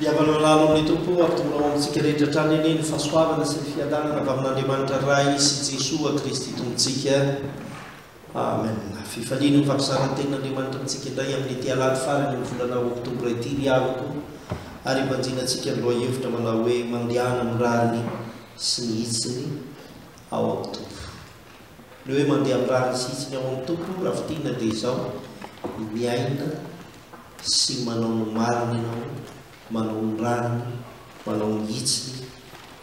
Mpihavana lalo amin'ny Tompo, hampidorina ao amintsika rehetra hatrany anie ny fahasoavana sy ny fiadanana avy amin'Andriamanitra Ray sy Jesoa Kristy Tompontsika. Amen. Fifaliana ny fampiasana ny Tenin'Andriamanitra amintsika indray amin'ity alahady farany amin'ny volana Oktobra ity ry havako, ary ibanjina antsika ny lohahevitra manao hoe Mandehana amin'ny rariny sy ny hitsiny ao amin'ny Tompo. Ny hoe mandeha amin'ny rariny sy hitsiny ao amin'ny Tompo, raha fintinina dia izao, miaina, sy manao ny marina ianao, manao ny rariny, manao ny hitsiny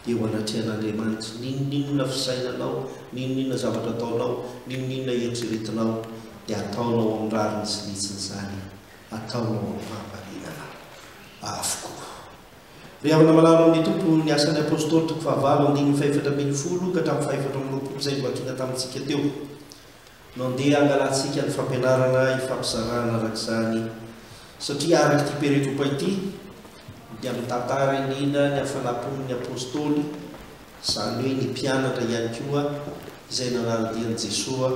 eo anatrehan'Andriamanitra, n'inon'inona fisainanao, n'inon'inona zavatra ataonao, n'inon'inona eritreretinao, dia ataonao amin'ny rariny sy ny hitsiny izany, ataonao amin'ny fahamarinana avokoa. Ry havana malala ao amin'ny Tompo, ny Asan'ny Apostoly, toko fahavalo, andininy fahefatra ambin'ny folo ka hatramin'ny fahefatra amby roapolo izay novakiana tamintsika teo. No andeha hangalantsika ny fampianarana ifampizarana araka izany satria araka ity peretropa ity dia mitantara indrindra ny hafanam-pon'ny Apostoly, izany hoe ny mpianatra ihany koa izay nanara-dian'i Jesoa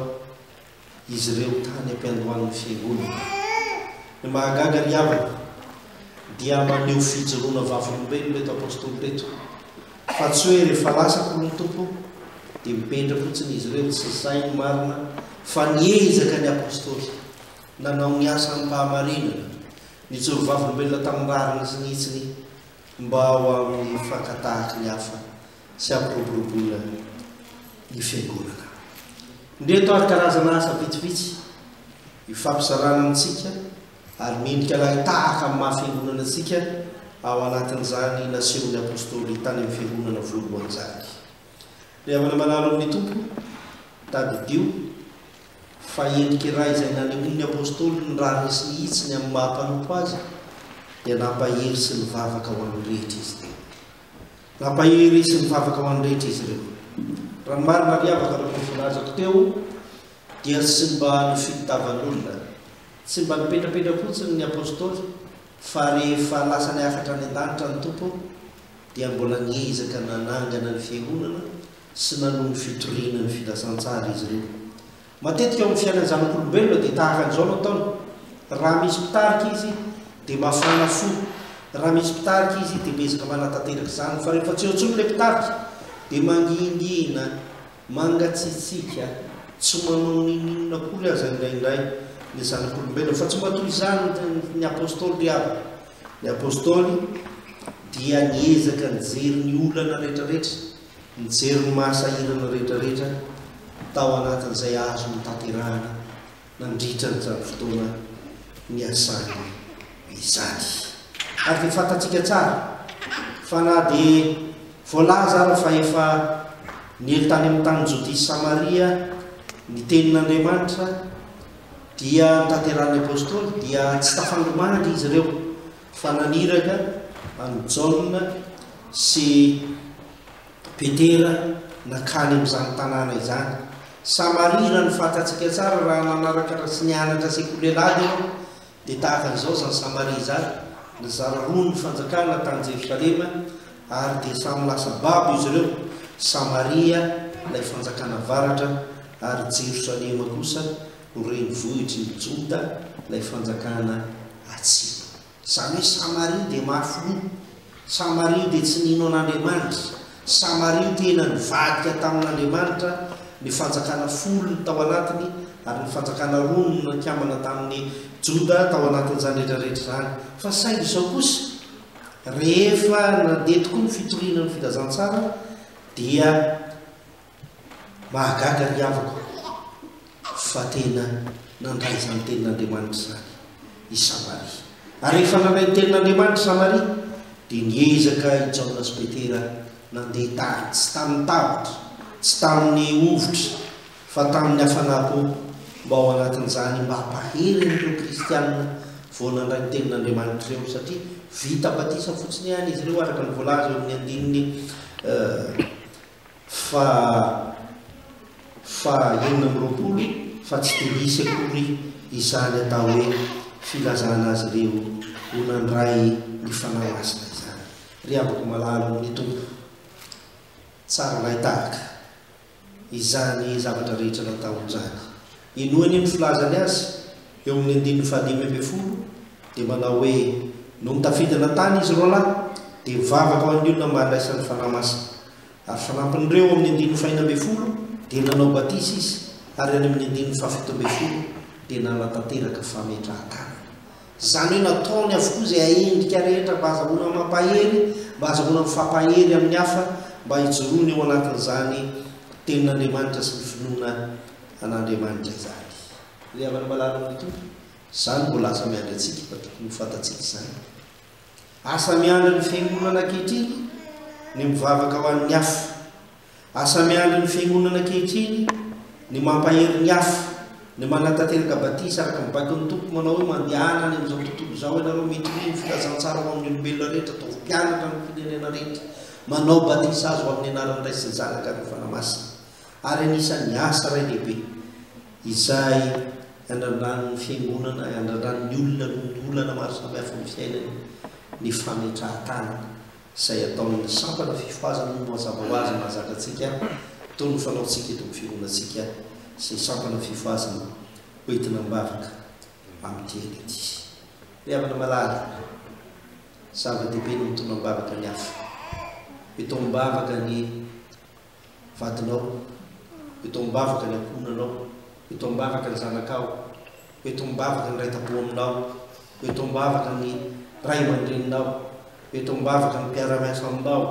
izy ireo tany am-piandohan'ny Fiangonana. Ny mahagaga ry havana dia maneho fijoroana vavolombelona ireto Apostoly ireto. Fa tsy hoe rehefa lasa akory ny Tompo dia mipendra fotsiny izy ireo, tsy izay ny marina fa niezaka ny Apostoly, nanao ny asa amim-pahamarinana, nijoro vavolombelona tamin'ny rariny sy ny hitsiny mba ho amin'ny fankatahaky ny hafa sy hampiroboroboana ny Fiangonana. Indreto ary karazana asa vitsivitsy ifampizarana amintsika Ary mendrika lahy tahaka amin'ny maha fiangonana antsika ao anatin'izany nasehon'ny Apostoly tany amin'ny fiangonana voalohany izany. Ry havana manalo amin'ny Tompo, tadidio fa endrika iray izay nanehoan'ny Apostoly ny raha resy mihitsy ny amin'ny maha mpanompo azy dia nampahery sy nivavaka ho an'ny rehetra izy ireo. Nampahery sy nivavaka ho an'ny rehetra izy ireo. Raha ny marina ry havana araka ny volazako teo dia tsy mba ny fitavan'olona. Tsy mba nipetrapetra fotsiny ny Apostoly fa rehefa lasany hafatra any an-danitra ny Tompo dia mbola niezaka nanangana ny fiangonana sy nanohy ny fitoriana ny filazantsara izy ireo. Matetika eo amin'ny fiainan'ny zanak'olombelona dia tahaka an'izao no ataony, raha misy mpitarika izy dia mafana fo, raha misy mpitarika izy dia miezaka manatanteraka izany fa rehefa tsy eo intsony ilay mpitarika dia mangingina. Mangatsiatsiaka, tsy manao n'inon'inona akory aza indraindray ny zanak'olombelona, fa tsy mba toy izany ny Apostoly ry havana. Ny Apostoly dia niezaka nijery ny olana rehetrarehetra, nijery ny maha sahirana rehetrarehetra tao anatin'izay azony tanterahana. nandritra an'izany fotoana niasany izany. Ary dia fantatsika tsara fa na dia voalaza ara fa efa niely tany amin'ny tany Jodia sy Samaria ny tenin'Andriamanitra dia notanterahin'ny apostoly dia tsy tafangomanga izy ireo fa naniraka an'i Jaona sy Petera nankany amin'izany tanàna izany. Samaria, raha ny fahatantsika tsara, raha nanaraka sy nianatra sekoly-lehilahy ianao, dia tahaka an'izao izany Samaria izany, nizara roa ny fanjakana tany Jerosalema, ary dia samy lasa babo izy ireo, Samaria, ilay fanjakana avaratra, ary Jerosalema kosa, renivohitry ny Joda, ilay fanjakana atsimo. Izany hoe Samaria dia mafy loha, Samaria dia tsy nino an'Andriamanitra, Samaria tena nivadika tamin'Andriamanitra, ny fanjakana folo tao anatiny ary ny fanjakana roa no nikambana tamin'i Joda tao anatin'izany rehetra rehetra izany. Fa saingy izao kosa, rehefa nandeha tokoa ny fitoriana ny filazantsara dia. Mahagaga ny havako fa tena nandray izany tenin'Andriamanitra izany i Samaria. Ary rehefa nandray ny tenin'Andriamanitra i Samaria dia niezaka i Jaona sy Petera nandeha tany, tsy tamin'ny tahotra, tsy tamin'ny hovitra fa tamin'ny hafanapo mba ao anatin'izany mba hampahery an'ireo kristiana vao nandray ny tenin'Andriamanitra ireo satria vita batisa fotsiny ihany izy ireo araka ny voalaza eo amin'ny andininy faha faha enina amby roapolo fa tsy dia hisy akory izany atao hoe filazana azy ireo ho nandray ny Fanahy Masina izany. Ry havako malala ao amin'ny Tompo, tsara lahy tahaka izany zavatra rehetra nataon'i Jacques. Inoany ny filazany azy eo amin'ny andininy fahadimy ambin'ny folo dia manao hoe, Nony tafidina tany izy roa lahy, dia nivavaka ho an'ny olona mba handraisany Fanahy Masina. Ary fanampin'ireo ao amin'ny andininy fahena ambin'ny folo dia nanao batisa izy, ary any amin'ny andininy fahafito ambin'ny folo dia nanatanteraka fametrahan-tanana. Izany hoe nataony avokoa izay ahendrika rehetra mba hazahoana mampahery, mba hazahoana mifampahery amin'ny hafa, mba hijoroana eo anatin'izany Tenin'Andriamanitra sy ny finoana an'Andriamanitra izany. Ry havana malala ny Tompo, izany mbola asa miandry antsika fa tokony ho fantatsika izany. Asa miandry ny fiangonana ankehitriny ny mivavaka ho an'ny afo. Asa miandry ny fiangonana ankehitriny ny mampahery ny afo, ny manatanteraka batisa araka ny baikon'ny Tompo manao hoe mandehana any amin'izao tontolo izao ianareo mitory ny filazantsara ho amin'ny olombelona rehetra, ataovy mpianatra amin'ny firenena rehetra, manao batisa azy ho amin'ny anaran'ny Ray sy ny Zanaka ary ny Fanahy Masina. ary anisan'ny asa iray lehibe izay iandrandran'ny Fiangonana, iandrandran'ny olona noho ny olana maro samihafa ny fiainany, ny fametrahan-tany izay ataon'ny sampana fifohazana ny mazava ho azy mahazatra antsika toy ny fanaontsika eto amin'ny Fiangonantsika sy ny sampana fifohazana hoentina ambavaka amin'ity aina ity. Ry havana malala, zava-dehibe ny mitondra am-bavaka ny hafa, mitaom-bavaka ny vadinao, eto am-bavaka ny ankohonanao, eto am-bavaka ny zanakao, eto am-bavaka ny raitabo aminao, eto am-bavaka ny ray aman-dreninao, eto am-bavaka ny mpiara-miasa aminao,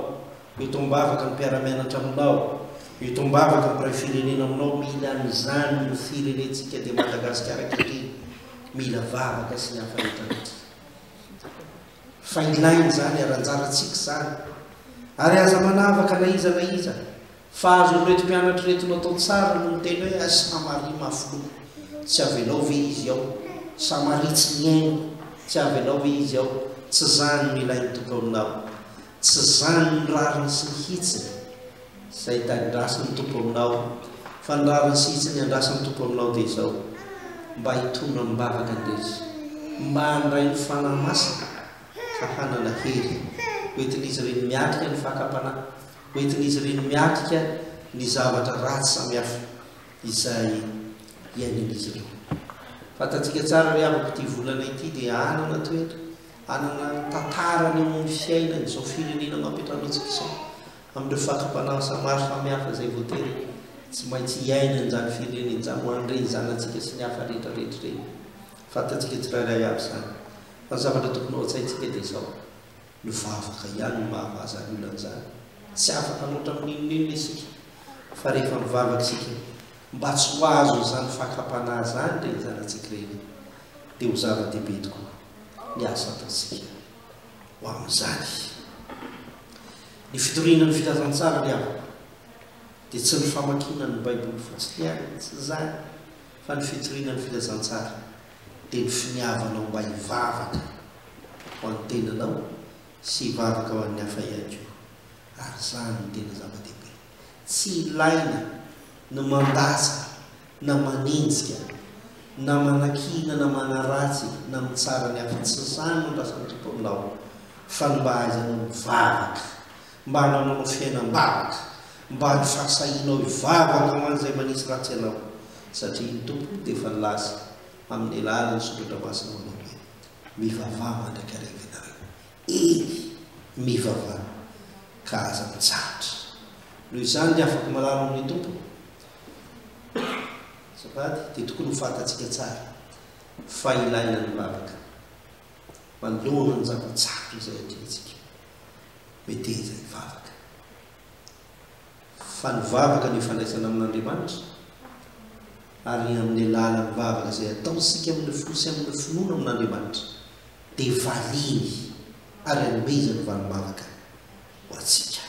eto am-bavaka ny mpiara-mianatra aminao, eto am-bavaka ny mpiray firenena aminao, mila an'izany io firenentsika dia Madagasikara ankehitriny, mila vavaka sy ny hafa rehetra rehetra. fa ilaina izany ary anjarantsika izany ary aza manavaka na iza na iza fa azon'ireto mpianatra ireto natao tsara no niteny hoe à Samaria mafy loha tsy avelao ve izy ao Samaria tsy mihaino tsy avelao ve izy ao tsy izany no ilain'ny tokaoninao tsy izany ny rariny sy ny hitsiny Izay tadidrasin'ny Tompo aminao, fa ny rariny sy hitsiny andrasin'ny Tompo aminao dia izao, mba hitondra amin'ny vavaka ny rehetra, mba handray ny Fanahy Masina, fa hanana hery, ho entin'izy ireny miatrika ny fakam-panahy, ho entin'izy ireny miatrika ny zavatra ratsy samihafa izay iainan'izy ireo. Fantatsika tsara ry havako, ity volana ity dia hanana toetra, hanana ny tantarany eo amin'ny fiainan'izao firenena amam-piantranoantsika izao. amin'ireo fatra-panahy samary samihafa izay voatery tsy maintsy hiaina an'izany firenena izany ho an'ireny zanatsika sy ny hafa rehetra rehetra ireny. Fantatsika tsirairay avy izany. Fa ny zavatra tokony ao an-tsaintsika dia izao, ny vavaka ihany no mahavaza ny olan'izany. Tsy afaka hanoatra amin'ny n'inon'inona isika, fa rehefa mivavaka isika mba tsy ho azo izany fakam-panahy izany ireny zanatsika ireny, dia ho zava-dehibe tokoa ny asa ataontsika. ho amin'izany. Ny fitoriana ny filazantsara ry havana dia tsy ny famakiana ny Baiboly fotsiny ihany, tsy izany, fa ny fitoriana ny filazantsara dia ny finiavanao mba hivavaka ho an'ny tenanao sy hivavaka ho an'ny hafa ihany koa, ary izany no tena zava-dehibe. Tsy ilaina ny mandatsa na manenjika na manakiana na manaratsy na mitsara ny hafa, tsy izany no lazain'ny Tompon'ny lalana, fa ny mba aizanao mivavaka, mba hanananao fiainam-bavaka, mba ny fahasahianao hivavaka ho an'izay manisy ratsy anao, satria ny Tompo dia efa nilaza amin'ny alalan'ny soratra masina manao hoe, Mivavaha mandrakariva ianareo, Eny, mivavaha, ka aza mitsahatra. Noho izany, ny afaka malala ao amin'ny Tompo, azafady, dia tokony ho fantatsika tsara fa ilaina ny lalaka manoloana ny zava-tsarotra izay atrehintsika. Meteza hivavaka. Fa ny vavaka no ifandraisana amin'Andriamanitra, ary amin'ny alalan'ny vavaka izay ataontsika amin'ny fo sy amin'ny finoana amin'Andriamanitra, dia valiny ary anomezany valim-bavaka ho antsika.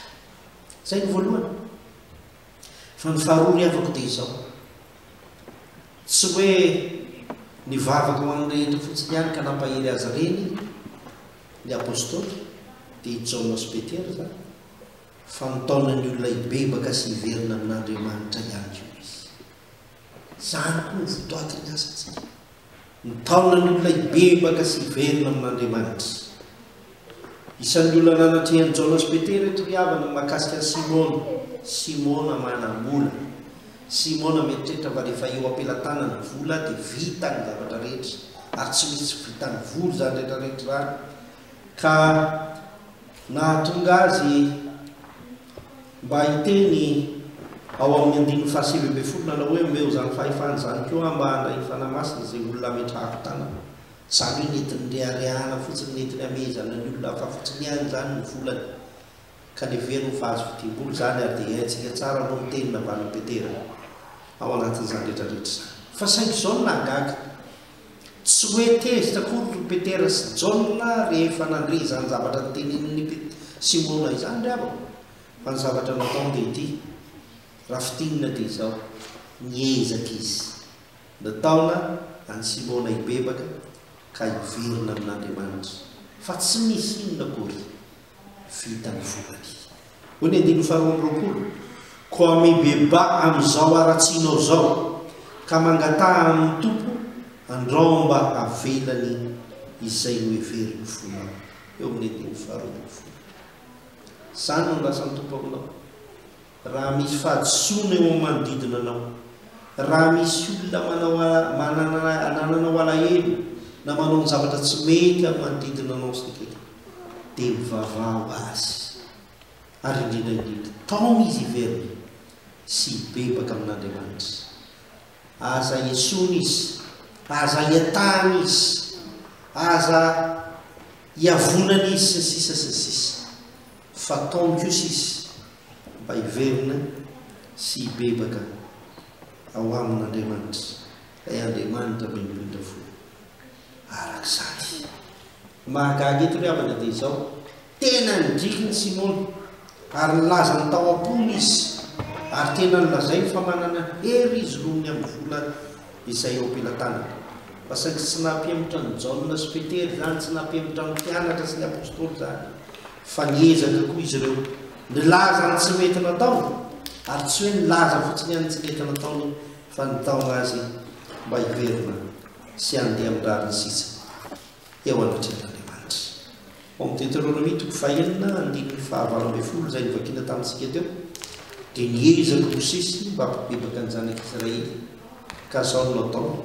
Izay no voalohany. Fa ny faharoa ry havako dia izao, tsy hoe nivavaka ho an'ny rehetra fotsiny ihany ka nampahery azy ireny ny Apostoly, dia i Jaona sy Petera izany, fa mitaona ny olona hibebaka sy hiverina amin'Andriamanitra ihany koa izy. Izany koa no votoatin'ny asantsika. Mitaona ny olona hibebaka sy hiverina amin'Andriamanitra. Isan'ny olona nanatrehan'i Jaona sy Petera eto ry havana ny mahakasika an'i Simona. Simona manamora. Simona mieritreritra fa rehefa eo am-pelatanana ny vola dia vita ny zavatra rehetra, ary tsy misy tsy vitan'ny vola izany rehetra rehetra izany. ka nahatonga azy mba hiteny ao amin'ny andininy fahasivy ambin'ny folo nanao hoe, Omeo izany fahefana izany koa aho mba handray ny Fanahy Masina izay olona ametrahako tanana. Izany hoe nentiny reharehana fotsiny, nentiny hamehezana ny olona hafa fotsiny ihany izany ny volany, ka leveno ho vazo fidiam-bola izany, ary dia haintsika tsara aloha ny teny navalin'i Petera ao anatin'izany rehetra rehetra izany. Fa saingy izao no nahagaga. Tsy hoe tezitra akory ry Petera sy Jaona rehefa nandre izany zavatra notenenin'i Simona izany ry havana, fa ny zavatra nataony dia ity, raha fintinina dia izao, niezaka izy, nitaona an'i Simona hibebaka ka hiverina amin'Andriamanitra, fa tsy nisy inona akory, Vita ny vokany. Hoy ny andininy faharoa amby roapolo, Koa mibebaha amin'izao haratsianao izao, ka mangataha amin'ny Tompo andrao mba havelany izay noheverin'ny fonao. Eo amin'ny andininy faharoa ambin'ny folo. Izany no nilasan'ny Tompo aminao. Raha misy fahadisoana eo amin'ny manodidina anao, raha misy olona manao anananao alahelo na manao ny zavatra tsy mety amin'ny manodidina anao sy ny ketiny, dia mivavaha ho Azy, ary indrindra indrindra, taomy izy hiverina sy hibebaka amin'Andriamanitra. Aza esoina izy, aza iatahana izy, aza iavonana izy, sy ny sisa sy ny sisa, fa taomy kosa izy. mba hiverina sy hibebaka ao amin' Andriamanitra, ilay Andriamanitra mendromendra fo. Araka izany. Ny mahagaga eto ry havana dia izao, tena nidriky ny Simona ary nilazany tao am-pony izy ary tena nolazainy fa manana hery izy noho ny amin'ny vola izay eo am-pelatanany. Fa saingy tsy nahampiemotra an'i Jaona sy Petera izany, tsy nahampiemotra ny mpianatra sy ny apostoly izany. Fa niezaka koa izy ireo nilaza ny tsy mety nataony, ary tsy hoe nilaza fotsiny ihany ny tsy mety nataony fa nitaona azy mba hiverina sy handeha amin'ny rariny sisa eo anatrehan'Andriamanitra. Ao amin'ny Deteronomia toko fahenina andininy fahavalo ambin'ny folo izay novakiana tamintsika teo dia niezaka Mosesy mba hampibebaka an'ny zanak'Israely ka zao no nataony.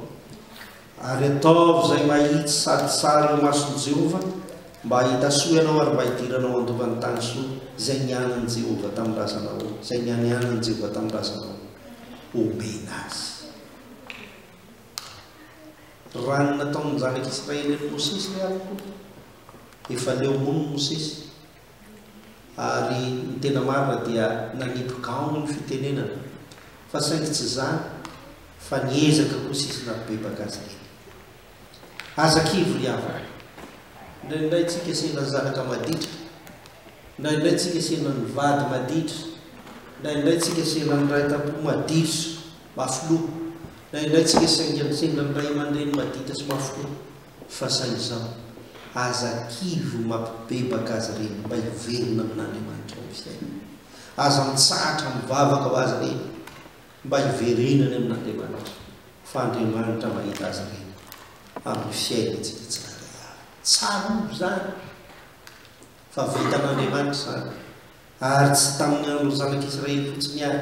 Ary ataovy izay mahitsy sady tsara eo imason'i Jehovah, mba hahita soa ianao ary mba hidiranao handova ny tany soa, izay nianan'i Jehovah tamin'ny razanao, izay nianianan'i Jehovah tamin'ny razanao homena azy. Raha ny nataon'ny zanak'Israely an'i Mosesy re ampoko, efa leo hono Mosesy. ary ny tena marina dia nanipy gaony ny fitenenana fa saingy tsy izany fa niezaka kosa izy nampibebaka azy ireny. Aza kivy ry havana, indraindray tsy hikasehina ny zanaka maditra, indraindray tsy hikasehina ny vady maditra, indraindray tsy hikasehina ny ray tam-po maditra sy mafiloha, indraindray tsy hikasehina ny ray aman-dreny maditra sy mafiloha. Fa sahy izao, aza kivy ho mampibebaka azy ireny mba hiverina amin'Andriamanitra ny fiainana. Aza mitsahatra mivavaka ho azy ireny mba hiverenany amin'Andriamanitra, fa Andriamanitra mahita azy ireny amin'ny fiainantsika tsirairay avy. Tsarovy izany fa vitan'Andriamanitra izany Ary tsy tamin'ny andron'ny Zanak' Israely fotsiny àry,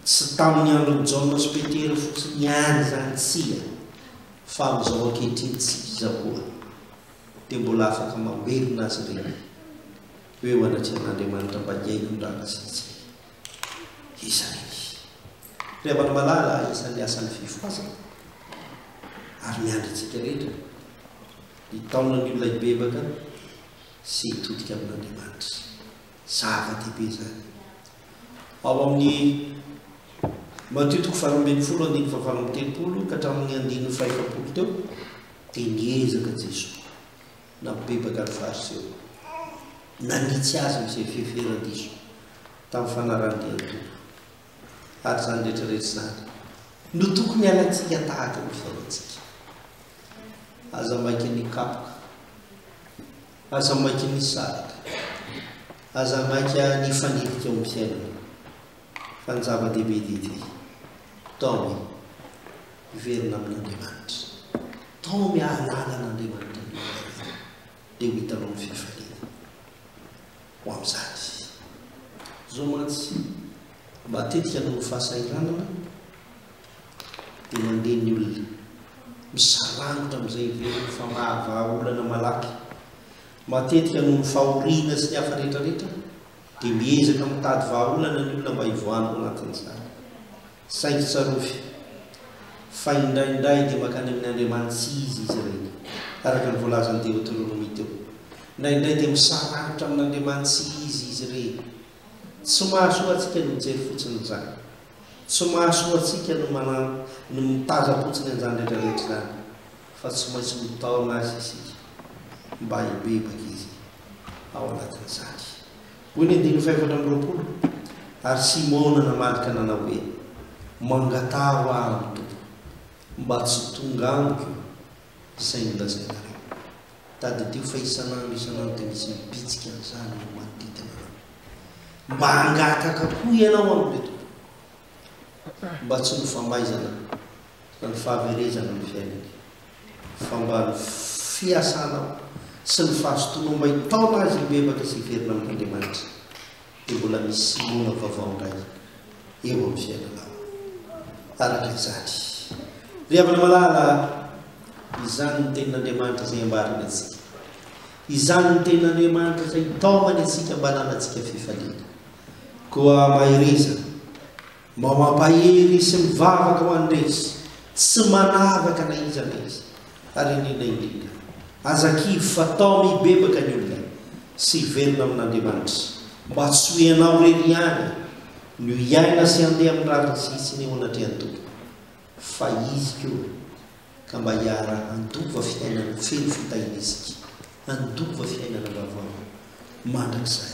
tsy tamin'ny andron'i Jaona sy Petera fotsiny àry izany, tsia, fa amin'izao ankehitriny isika izao koa dia mbola afaka mamerina azy ireny ho eo anatrehan'Andriamanitra mba hihaino ny raràsantsika. Iza àry ny ry havana malala isan'ny asan'ny fifohazana? Ary miandry antsika rehetra ny taonan'ny olona hibebaka. sy hitodika amin'Andriamanitra. Zava-dehibe izany. Ao amin'ny Matio toko faharoa ambin'ny folo andininy fahavalo amby telopolo ka hatramin'ny andininy fahefapolo teo dia niezaka Jesoa nampibebaka ny Fariseo. Nanitsy azy amin'izay fihefera diso tamin'ny fanarahan-dia ny Tompo. Ary izany rehetra rehetra izany no tokony hialantsika tahaka ny fiainantsika. Aza maika ny kapoka, aza maika ny saraka, aza maika ny fanilika amin'ny fiainana. Fa ny zava-dehibe dia ity, taomy hiverina amin'Andriamanitra, taomy hahalala an'Andriamanitra ny olona, dia ho hitanao ny fifaliana. ho amin'izany. Izao mantsy, matetika noho ny fahasahiranana dia mandeha ny olona. Misarangotra amin'izay heveriny fa mahavaha olana malaky. Matetika noho ny fahoriana sy ny hafa rehetrarehetra dia miezaka mitady vahaolana ny olona mba hivoahany ao anatin'izany. Saingy tsarovy fa indraindray dia mankany amin' Andriamanitsizy izy ireny, araka ny voalazan' ny Deoterônômy teo. Indraindray dia misaranitra amin' Andriamanitsizy izy ireny. Tsy mahasoa antsika ny mijery fotsiny izany. Tsy mahasoa antsika ny manan ny mitazam-potsiny an'izany rehetrarehetra izany, fa tsy maintsy mitaona Azy isika mba hibebaka Izy ao anatin'izany. Hoy ny andininy fahefatra amby roapolo, Ary Simona namadika nanao hoe, Mangataha ahy ny Tompo, mba tsy tonga amiko io, izay nolazainareo. Tadidio fa isan'andro isan'andro dia misy mibitsika an'izany no manodidina anao. Mba hangataka koa ianao amin'ireo tompoko, mba tsy ho nofahaizana Fa ny fahaverezana ny fiainany, fa mba ny fiasana sy ny fahazotoana omain-taona azy hibebaka sy hiverina amin'Andriamanitra, dia mbola misy Simona vaovao indray eo amin'ny fiainanao. Araka izany, ry havana malala, izany ny Tenin'Andriamanitra izay ambarany antsika. Izany ny Tenin'Andriamanitra izay taomany antsika mba hananantsika fifaliana. Koa mahereza! Mba mampahery sy mivavaka ho an'iretsy tsy manavaka na iza na iza, ary indrindra indrindra, aza kivy fa tao mibebaka ny olona sy hiverina amin'Andriamanitra mba tsy ho ianao irery ihany no hiaina sy handeha amin'ny rariny sy hitsiny eo anatrehan'ny Tompo fa Izy koa ka mba hiara handova fiainana feno fitahiana isika handova fiainana vaovao mandrakizay.